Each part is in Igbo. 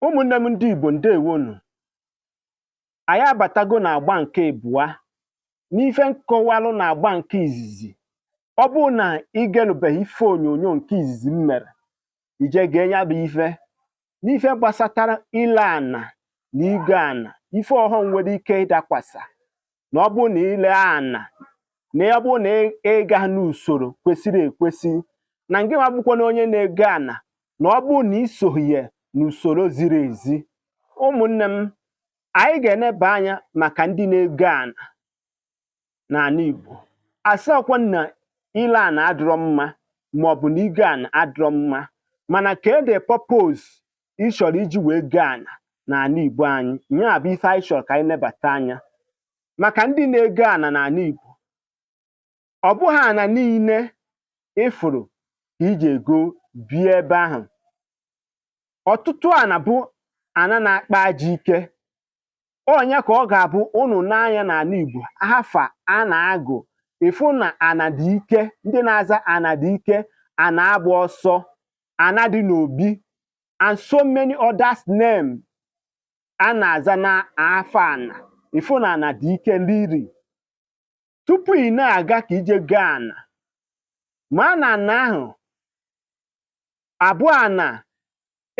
ụmụnne m ndị Igbo ndewo nụ anyị abatago na agba nke abụọ n'ife m kọwalụ na agba nke izizi ọ bụrụ na ị gelubeghị ife onyonyo nke izizi m mere i je gee ya bụ ife n'ife gbasatara ile ana na igo ana ife ọghọm nwere ike ịdakwasa na ọ bụrụ na ile ana na ọ bụrụ na ị ga n'usoro kwesịrị ekwesị na ngị nwa bụkwanụ onye na-ego ana na ọ bụrụ na i soghị ya n'usoro ziri ezi ụmụnne m anyị ga-eneba anya maka ndị na-ego ana n'ana Igbo asịrọkwa na ile ana adịrọ mma maọbụ na igo ana adịrọ mma mana kee the purpose ị chọrọ iji wee go ana n'ana Igbo anyị ya bụ ife anyị chọrọ ka anyị nebata anya maka ndị na-ego ana n'ana Igbo ọ bụghị ana niile ị fụrụ ka iji ego bie ebe ahụ ọtụtụ ana bụ ana na-akpa ajọ ike ọ nya ka ọ ga-abụ unu nee anya n'ana Igbo afa a na-agụ ị fụ na ana dị ike ndị na-aza ana dị ike ana agba ọsọ ana dị n'obi and so many others name a na-aza na afa ana ị fụ na ana dị ike liri tupu ị na-aga ka i je go ana ma na ana ahụ abụrọ ana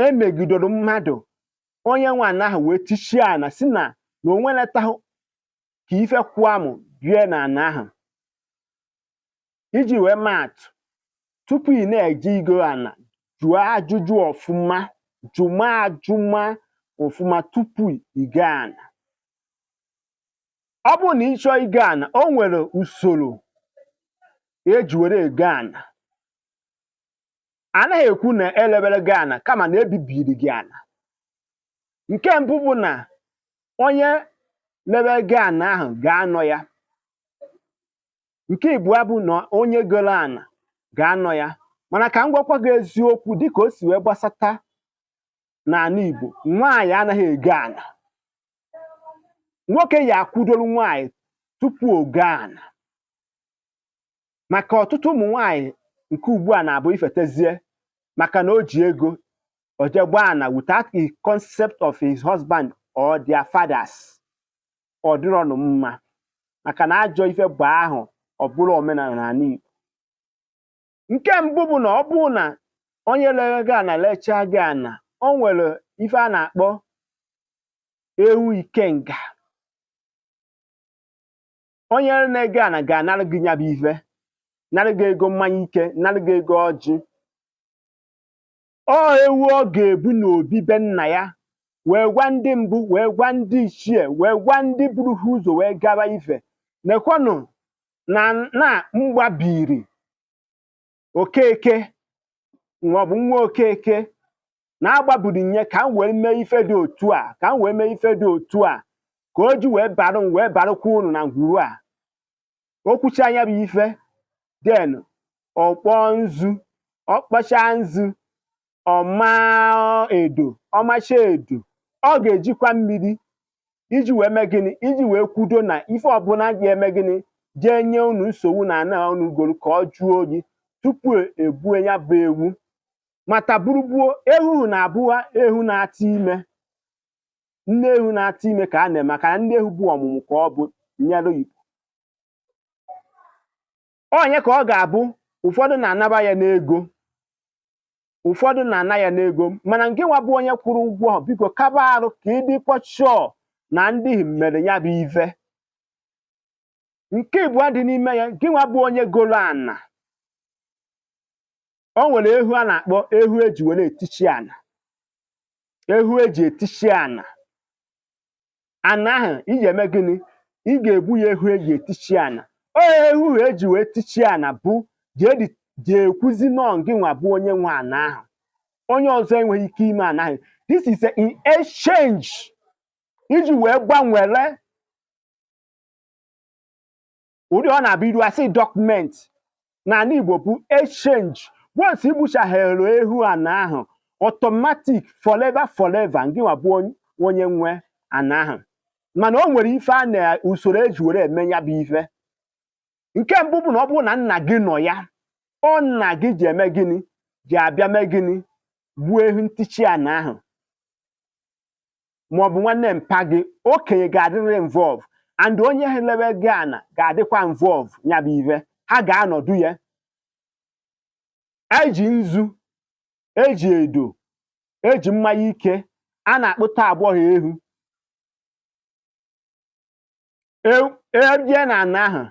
e megidoro mmadụ onye nwe ana ahụ wee tichie ana sị na na o nweletaghị ka ife kwụọ mụ bie na ana ahụ iji wee maa atụ tupu ị na-eje igo ana jụọ ajụjụ ọfụma jụma ajụma ọfụma tupu i go ana ọ bụrụ na ị chọọ igo ana o nwere usoro e ji were ego ana anaghị ekwu na e lebere gị ana kama na e bibiri gị ana nke mbụ bụ na onye lebe gị ana ahụ ga-anọ ya nke ịbụa bụ na onye goro ana ga-anọ ya mana ka m gwakwa gị eziokwu dịka o si wee gbasata n'ana Igbo nwaanyị anaghị ego ana nwoke ya-akwụdoro nwaanyị tupu o go ana maka ọtụtụ ụmụ nwaanyị nke ugbu a na-abụ ifetezie maka na o ji ego o je gbaa ana without the concept of his husband or their fathers ọ dịrọnụ mma maka na ajọ ife bụ ahụ ọ bụrọ omenana n'ana Igbo nke mbụ bụ na ọ bụrụ na onye lere gị ana lechaa gị ana o nwere ife a na-akpọ ewu ikenga onye na-ego ana ga-anara gị nya bụ ife nara gị ego mmanya ike nara gị ego ọjị ọ ewu ọ ga-egbu n'obi be nna ya wee gwa ndị mbụ wee gwa ndị ichie wee gwa ndị buru ha ụzọ wee gaba ife nekwanụ na ana m gbabiri okeke maọbụ nwa okeke na-agbabiri nye ka m wee mee ife dị otu a ka m wee mee ife dị otu a ka o ji wee bara m wee barakwa uru na ngwuru a o kwuchaa nya bụ ife then ọ kpọọ nzu ọ kpọcha nzu ọ ma edo ọ macha edo ọ ga-ejikwa mmiri iji wee mee gịnị iji wee kwudo na ife ọbụla ga-eme gịnị jee nye unu nsogbu na ana unu goro ka ọ jụọ oyi tupu egbue ya bụ ewu mata burugbuo ehu ahụ na-abụwa ehu na-atụ ime nne ewu na-atụ ime ka a na-eme maka na nne ewu bụ ọmụmụ ka ọ bụ nyere igbo onye ka ọ ga-abụ ụfọdụ na-anaba ya n'ego ụfọdụ na-ana ya n'ego mana ngị nwa bụ onye kwụrụ ụgwọ biko kaba arụ ka ị dịkwa sure na ndị mere ya bụ ife nke ịbụọ dị n'ime ya ngị nwa bụ onye golo ana o nwere ehu a na-akpọ ehu eji were etichi ana ehu eji etichi ana ana ahụ ị ga-eme gịnị ị ga-egbu ya ehu eji etichi ana ọ ehu ahụ eji wee tichi ana bụ ji ekwuzi na ọ gị nwa bụ onye nwe ana ahụ onye ọzọ enweghị ike ime ana ahụ this is a in exchange iji wee gbanwere ụdị ọ na-abụ iru a sị document n'ala Igbo bụ exchange once i gbuchaghere ehu ana ahụ automatic forever forever ngị nwa bụ onye nwe ana ahụ mana o nwere ife a na usoro eji were eme ya bụ ife nke mbụ bụ na ọ bụrụ na nna gị nọ ya ọ nna gị ji eme gịnị ji abịa mee gịnị gbuo ehu ntichi ana ahụ ma ọ bụ nwanne mpa gị okenye ga-adịrịrị involve and onye ji elewe gị ana ga-adịkwa involve ya bụ ive ha ga-anọdụ ya eji nzu eji edo eji mmanya ike a na-akpụta agbọghọ ehu ebie e na ana ahụ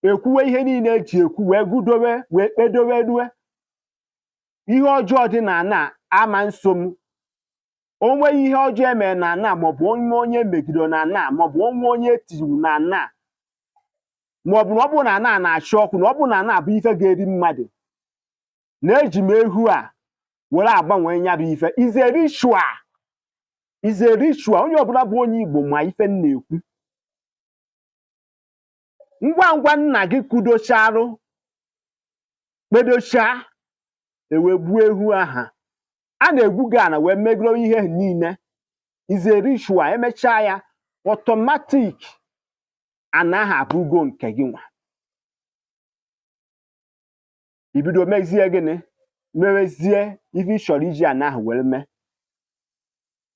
ekwuwe ihe niile eji ekwu wee gudowe wee kpedowe na ihe ọjọọ dị na ana ama nso m o nweghị ihe ọjọọ emere na ana maọbụ o nwe onye megidere na ana maọbụ o nwe onye tiri iwu na ana maọbụ na ọ bụrụ na ana na-achụ ọkụ na ọ bụrụ na ana bụ ife ga-eri mmadụ na eji m ehu a were agbanwe ya bụ ife is a ritual is a ritual onye ọbụla bụ onye igbo ma ife m na-ekwu ngwa ngwa nna gị kudocharụ kpedocha e wee gbuo ehu aha a na-egwu gị ana wee megoro ihe niile is a ritual emechaa ya automatic ana aha abụgo nke gị nwa i bido mezie gịnị mewezie ife ị chọrọ iji ana ahụ were mee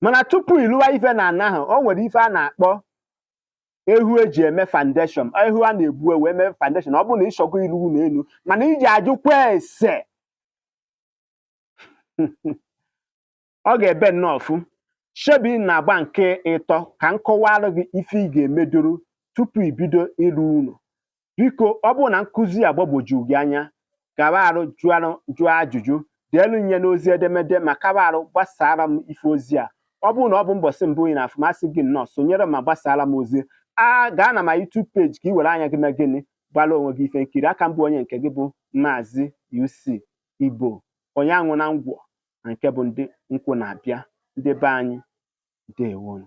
mana tupu ị lụwa ife na ana ahụ o nwere ife a na-akpọ ehu e ji eme foundation ehu a na-egbu e wee mee foundation ọ bụrụ na ị chọgo ịlụ ụnọ enu mana iji ajụkwa ese ọ ga-ebe nnọọ ọfụ shebi n'agba nke ịtọ ka m kọwara gị ife ị ga-emedoro tupu i bido ịlụ ụnọ biko ọ bụrụ na nkụzi a gbagwoju gị anya gawa arụ jụọ ajụjụ deelu nye n'ozi edemede ma kawa arụ gbasara m ife ozi a ọ bụrụ na ọ bụ mbọsị mbụ ị na-afụ m asị gị nnọọ sonyere ma gbasara m ozi a gaa na my YouTube page ka ị were anya gị mee gịnị gbara onwe gị ife nkiri a ka m bụ onye nke gị bụ Maazị UC Igbo onye anwụ na ngwọ na nke bụ ndị nkwụ na-abịa ndị be anyị ndewonu